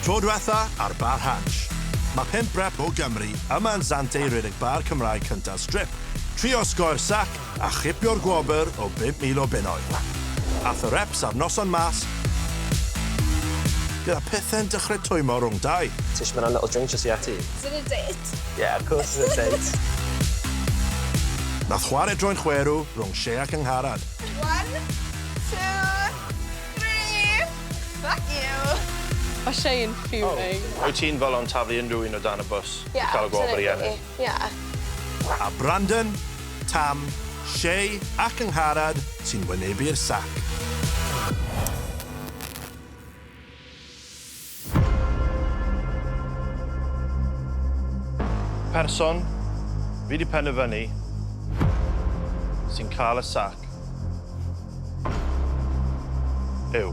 Tro dwetha ar Bar Hatch. Mae pump rep o Gymru yma yn Sant Ei rhedeg bar Cymraeg cynta Strip, tri osgoi'r sac a chipio'r gwobr o 5,000 o bunnoedd. Ath y reps a'r noson mas gyda pethe'n dechrau twymmo rhwng dau. Tish ma na little drink jyst i ati. Is it a date? Yeah of course it's a date. Nath chware droi'n chwerw rhwng Shea ac Angharad. One, two. Brif! Fuck you! Ma' Shane fuming. O! Wyt ti'n fel o'n taflu unrhyw un o dan y bws i cael y gwobr i ennill? Ie, absolutely, ie. A Brandon, Tam, Shay a Cyngharad sy'n wynebu'r sac. Person, fi di penderfynu, sy'n cael y sac yw...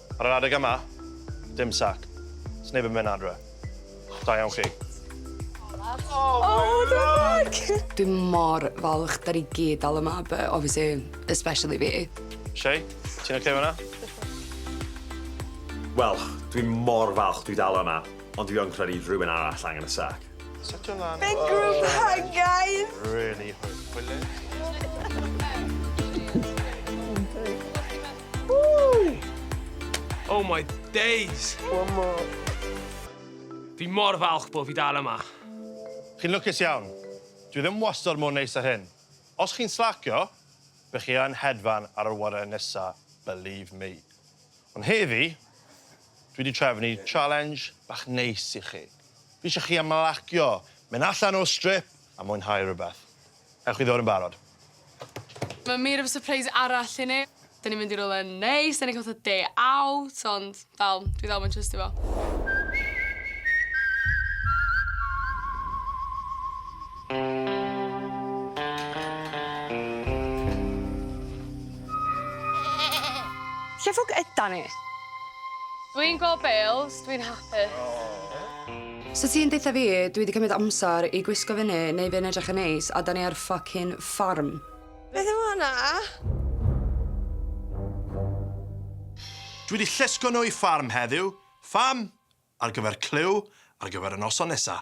Ar yr adeg yma, dim sac. Sneb yn mynd adre. Da iawn chi. Oh, dramatic! Dwi mor falch 'da ni gyd dal yma but obviously especially fi. Shay, ti'n ocê 'fo hwnna? Wel, dwi mor falch dwi dal yma, ond dwi yn credu rhywun arall angen y sac. Setio lan. Big group hug, guys! Really hwyl. Hwyl. Oh my days! One more. Fi mor falch bod fi dal yma. Chi'n lwcus iawn. Dwi ddim wastod mor neis â hyn. Os chi'n slacio, be chi yn hedfan ar yr awyren nesa, believe me. Ond heddi, dwi wedi trefnu challenge bach neis i chi. Fi eisiau chi ymlacio, mynd allan o'r strip a mwynhau rhywbeth. Ewch chi ddod yn barod? Mae mur efo surprise arall i ni. Da ni'n mynd i rywle neis, da ni'n cael fatha day out, ond dal, dwi ddal moyn trystio fo. Lle ffwc ydan ni? Dwi'n gweld Bales, dwi'n hapus. So ti'n deutha fi dwi 'di cymryd amser i gwisgo fyny neu fyn edrych yn neis a 'dan ni ar ffycin ffarm? Beth yw honna? Dwi 'di llusgo nhw i ffarm heddiw, fam, ar gyfer clyw ar gyfer y noson nesa.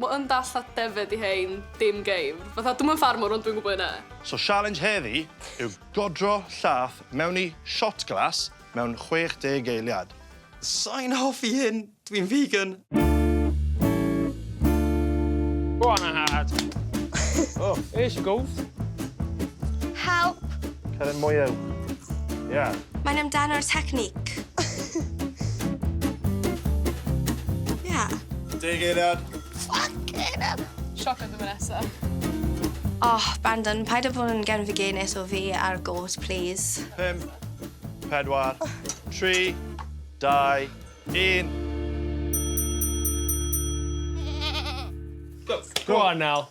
Ma yn dall a defaid i hein, dim geifr. Fatha, dwi'm yn ffarmwr ond dwi'n gwybod hynna. So sialens heddi yw godro llath mewn i shot glass mewn 60 eiliad. Sai'n hoffi hyn, dwi'n vegan. Go on then lad. Oh, here she goes. Help. Cer yn mwy uwch. Ia. Mae'n amdano'r technique. yeah. Deg eiliad. Fucking hell. Sioc oedd yma nesa. Oh, Brandon, paid â bod yn gen fy genes o fi ar gôt, please. Pum, pedwar, tri, dau, un. Go. Go on, Nel.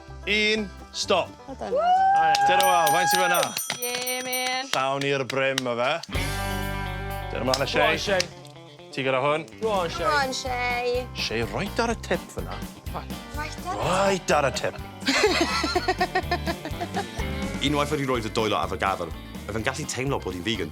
Un, stop. Dyna wa, faint sy'n fyna? Ie, man. Llawn i'r brym, o fe. Dyna mlaen y Shay. Shay. Ti gyda hwn. Go on, Shay. Go on, Shay. Shay, right ar y tip fyna. Right ar y tip. Unwaith wedi roed y doelo ar fy gafel, fe fe'n gallu teimlo bod hi'n vegan.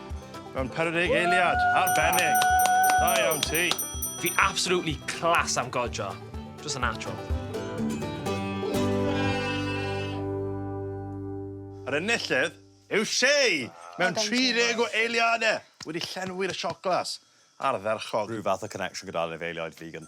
Mae'n peredig eiliad, arbennig. Da iawn ti. Fi absolutely class am godro. Just a natural. Yr enillydd yw Shay mewn 30 o eiliadau wedi llenwi'r sioclas ardderchog. Rhyw fath o connection gyda'r anifeiliaid vegan.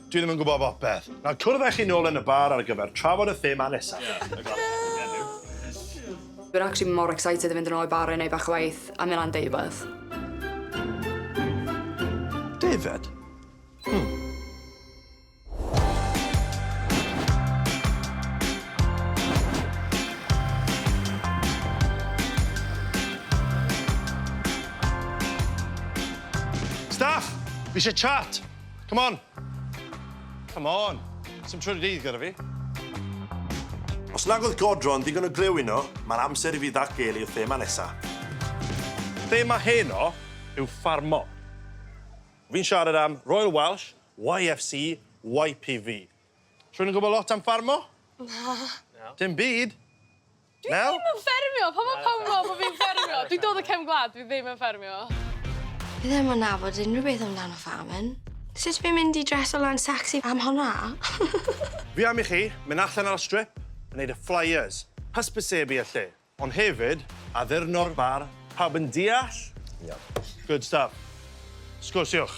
Dwi ddim yn gwybod bopeth. Nawr cwrdd â chi nôl yn y bar ar gyfer trafod y thema nesaf. Yeah, y glas yn heddiw. Dwi'n actually mor excited i fynd yn ôl i bar a neud bach o waith a mynd lan yn deud rwbeth. Deifed? Hmm. Staff! Fi eisiau chat! Come on! Come on! Sim trwy'r dydd gyda fi. Os nag oedd godro yn ddigon o glyw yno, mae'r amser i fi ddatgelu y thema nesa. Thema heno yw ffarmo. Fi'n siarad am Royal Welsh, YFC, YPV. Rhywun yn gwybod lot am ffarmo? Na. Dim byd. Dwi ddim yn ffermio! Pam ma' pawb yn meddwl bo fi'n ffermio? Dwi'n dod o cefn gwlad, dwi ddim yn ffermio. Fi ddim yn nabod unrhyw beth amdano farming. Sut fi'n mynd i dreso lan sexy am honna? Fi am i chi mynd allan ar y strip a neud y flyers, hysbysebu y lle, ond hefyd addurno'r bar, pawb yn deall? Iawn. Good stuff. Sgwrsiwch.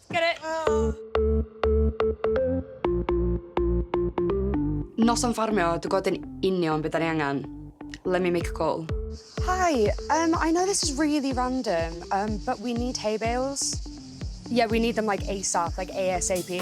Get it? Noson ffarmio, dwi'n gwybod yn union beth da ni angen. Let me make a call. Hi, um, I know this is really random, um, but we need hay bales. Yeah, we need them like ASAP, like ASAP.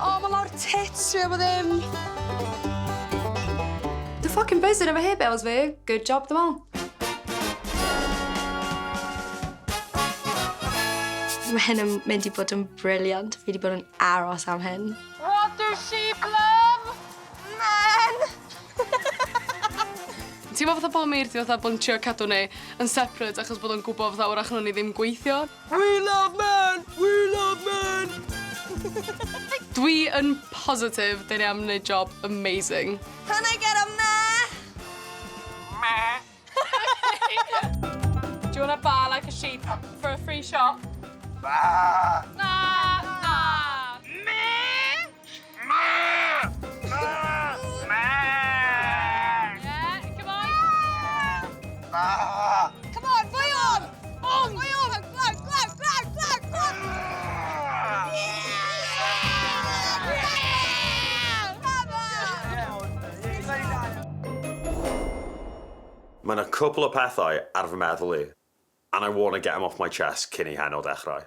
O, ma' lawr tits fi am bo ddim. Dwi ffocin buzzin efo hair bells fi. Good job dwi me'wl. Ma' hyn yn mynd i bod yn brilliant. Fi 'di bod yn aros am hyn. What does she blum? Men! Teimlo fatha bo' Meirdy fatha bo' yn trio cadw ni yn separate achos bod o'n gwbo fatha 'w'rach nown ni ddim gweithio. We love men! We love men! Dwi yn positif dyn ni am wneud job amazing. Can I get a meh? Meh! Do you want a baa like a sheep for a free shop? Baa! Na! Na! Meh! Mae yna cwpl o pethau ar fy meddwl i, and I want to get them off my chest cyn i heno ddechrau.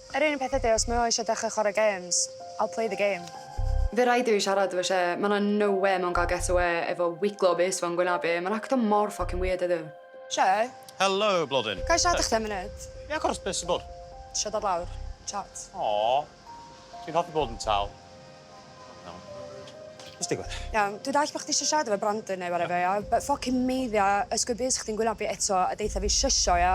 Yr unig peth ydi os mae o eisiau dechrau chwarae games, I'll play the game. Fe rhaid i fi siarad efo Shea, ma' 'na no wê mae o'n cael get awê efo wiglo bys fo'n gwynab i, ma'n acto mor ffocin weird heddiw. Shea? Helo, blodyn. Ga i siarad â chdi am funud? Ia, of course, be' sy bod? Isio dod lawr, chat. Aww, dwi'n hoffi bod yn tal. Iawn. Be' sy digwydd? Iawn, dwi dallt bo' chdi isio siarad efo Brandon neu whatever ia, but ffycin meiddia ysgwyd bys chdi'n gwylio fi eto a deutha fi shysio ia?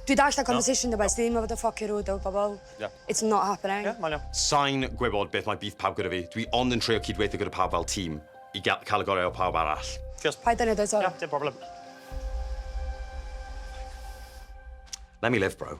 Dwi dallt na conversation dy beth, ti ddim yn fod yn ffycin rude efo pobol. Ia. It's not happening. Ia, mae'n iawn. Sai'n gwybod beth mae beef pawb gyda fi, dwi ond yn trio cyd-weithio gyda pawb fel tîm i ga- ca'l y gorau o pawb arall. Diolch. Paid â neud o eto. Ia, dim problem. Let me live bro.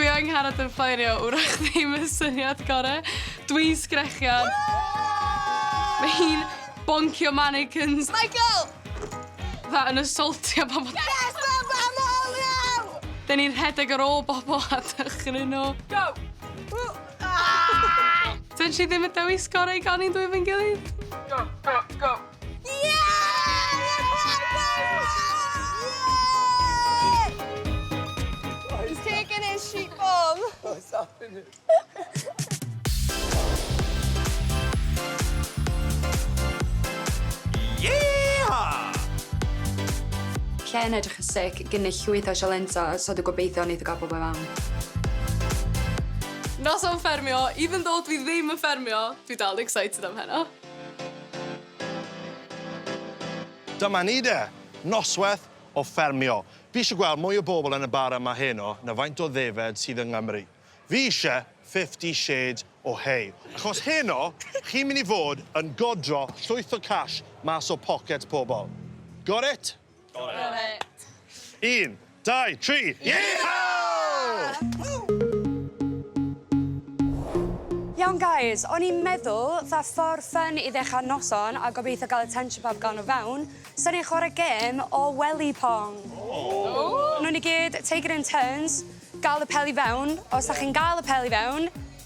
Dwi yng ngharad yn ffeirio, wrach ddim y syniad gore. Dwi'n sgrechian. Mae hi'n boncio mannequins. Michael! Fatha yn assaultio pobl. Yes, I'm am all now! Dyn ni'n rhedeg ar ôl bobl a dychryn nhw. Go! Dyn si ddim yn dewis gorau gan i'n dwy fyn gilydd. Go, go, go! Lle yn edrych yn sic, gynnull llwyth o sialensio, so dwi gobeithio neith o ga'l pobol i fewn. Noson ffermio, even though dwi ddim yn ffermio, dwi dal yn excited am heno. Dyma ni de! Noswaith o ffermio. Fi eisiau gweld mwy o bobl yn y bar yma heno na faint o ddefaid sydd yng Nghymru. Fi eisiau Fifty Shades o Hey. Achos heno, chi'n mynd i fod yn godro llwyth o cash mas o pocets pobl. Got it? Un, dau, tri. Iawn guys, o'n i'n meddwl fatha ffordd ffyn i ddechrau'r noson a gobeithio gael attention pawb gawn o fewn, 'sen ni'n chwarae gêm o wely pong. Ww! Newn ni gyd take it in turns, gael y pel i fewn, os 'dach chi'n gael y pel i fewn,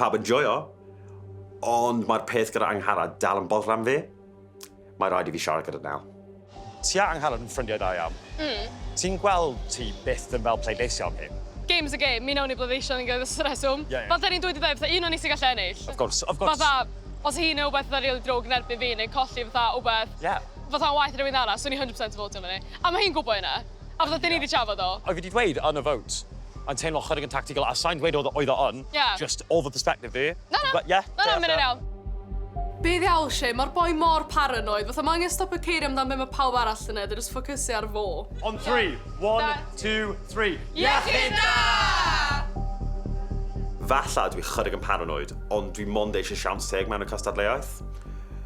Pawb yn joio, ond mae'r peth gyda Angharad dal yn boddran am fi. Mae rhaid i fi siarad gyda Nel. Ti a Angharad yn ffrindiau da iawn. Mm. Ti'n gweld ti byth yn fel pleidleisio am hyn? Game is a game. Mi wnawn ni bleidleisio am unrhyw reswm. Ie, ie. Fel 'da ni'n dweud iddo fe, un o ni sy'n gallu ennill. Of course, of course. Fatha, os yw hi'n neud rhywbeth fatha rili ddrwg yn erbyn fi neu colli fatha rhywbeth... Ie. ...fatha'n waeth i rhywun arall, swn i 100% yn fowtio arno ni. A mae hi'n gwybod hynna. A fatha 'dyn ni 'di trafod o. Oedd hi 'di dweud yn y vote yn teimlo chydig yn tactical a sai'n dweud oedd oedd o yn. Ie. Jyst o fy perspective fi. Na na. Ie? Na na ma' hynna'n iawn. Be ddiawl Shane, ma'r boi mor paranoid, fatha ma' angen stopio ceirio amdan be ma' pawb arall yn neud a jyst ffocysu ar fo. On three, one, two, three. Iechyd da! Falla dwi chydig yn paranoid, ond dwi mond eisiau siawns teg mewn y cystadleuaeth.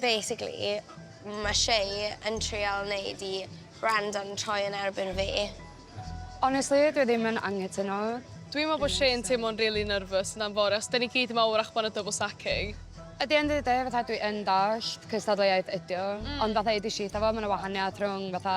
Basically ma' Shay yn trial neud i Brandon troi yn erbyn fi. Honestly dwi ddim yn anghytuno. Dwi'n meddwl bod Shay yn teimlo'n rili nervous yna'n fory os 'da ni gyd yma wrach bod 'na double stacking. At the end of the day fatha dwi yn dallt cystadleuaeth ydi o ond fatha edes i itha fo ma' 'na wahaniath rhwng fatha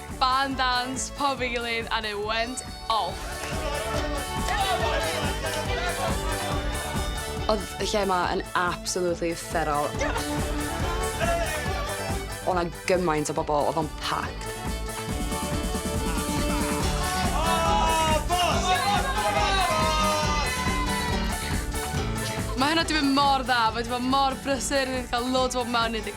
Barn dawns, pawb ei gilydd and it went off! Oedd y lle 'ma yn absolutely uffernol. O' 'na gymaint o bobl, oedd o'n packed. Mae hwnna 'di mynd mor dda, mae 'di bod mor brysur, ni 'di cael loads o bobl mewn, ni 'di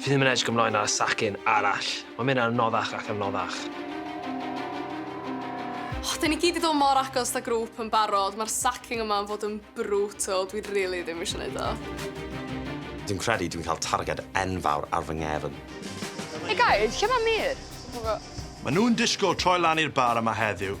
Fi ddim yn edrych ymlaen ar y sacin arall. Mae'n mynd yn anoddach ac anoddach. O, dyn ni gyd 'di dod mor agos fatha grŵp yn barod. Mae'r sacin yma yn fod yn brutal. Dwi rili ddim eisiau neud o. Dwi'n credu dwi'n cael targed enfawr ar fy nghefn. Hey guys, lle mae Meir? Mae nhw'n disgwyl troi lan i'r bar yma heddiw.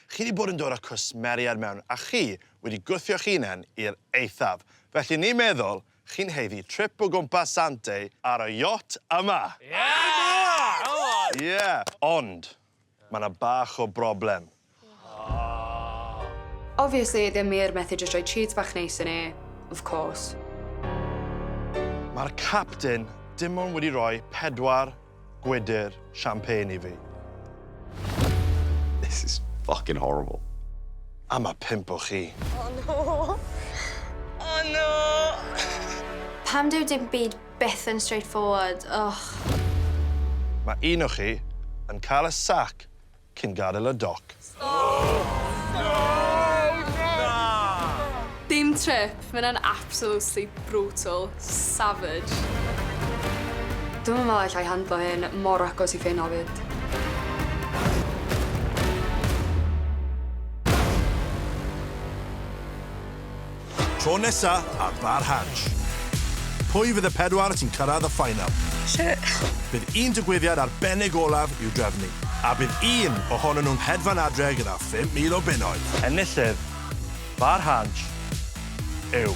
Chi 'di bod yn dod â cwsmeriaid mewn a chi wedi gwthio'ch hunen i'r eithaf, felly ni'n meddwl chi'n haeddu trip o gwmpas Zante ar y yacht yma! Ie! Ond, ma' 'na bach o broblem. Obviously ddim wir methu jyst rhoi treat bach neis i ni, of course. Ma'r capten dim ond wedi rhoi pedwar gwydr champagne i fi. This is fucking horrible. A ma' pump o chi. Oh no! Oh no! Pam dyw dim byd byth yn straightforward, ych. Ma' un o chi yn cael y sac cyn gadael y doc. Dim trip, mae hynna'n absolutely brutal, savage. Dwi'm yn meddwl alla i handlo hyn, mor agos i ffin ofid. Tro nesa ar Bar Hatch. Pwy fydd y pedwar sy'n cyrraedd y ffainal? Shit. Bydd un digwyddiad arbennig olaf i'w drefnu, a bydd un ohonyn nhw'n hedfan adre gyda 5,000 o bunnoedd. Enillydd Bar Hatch yw.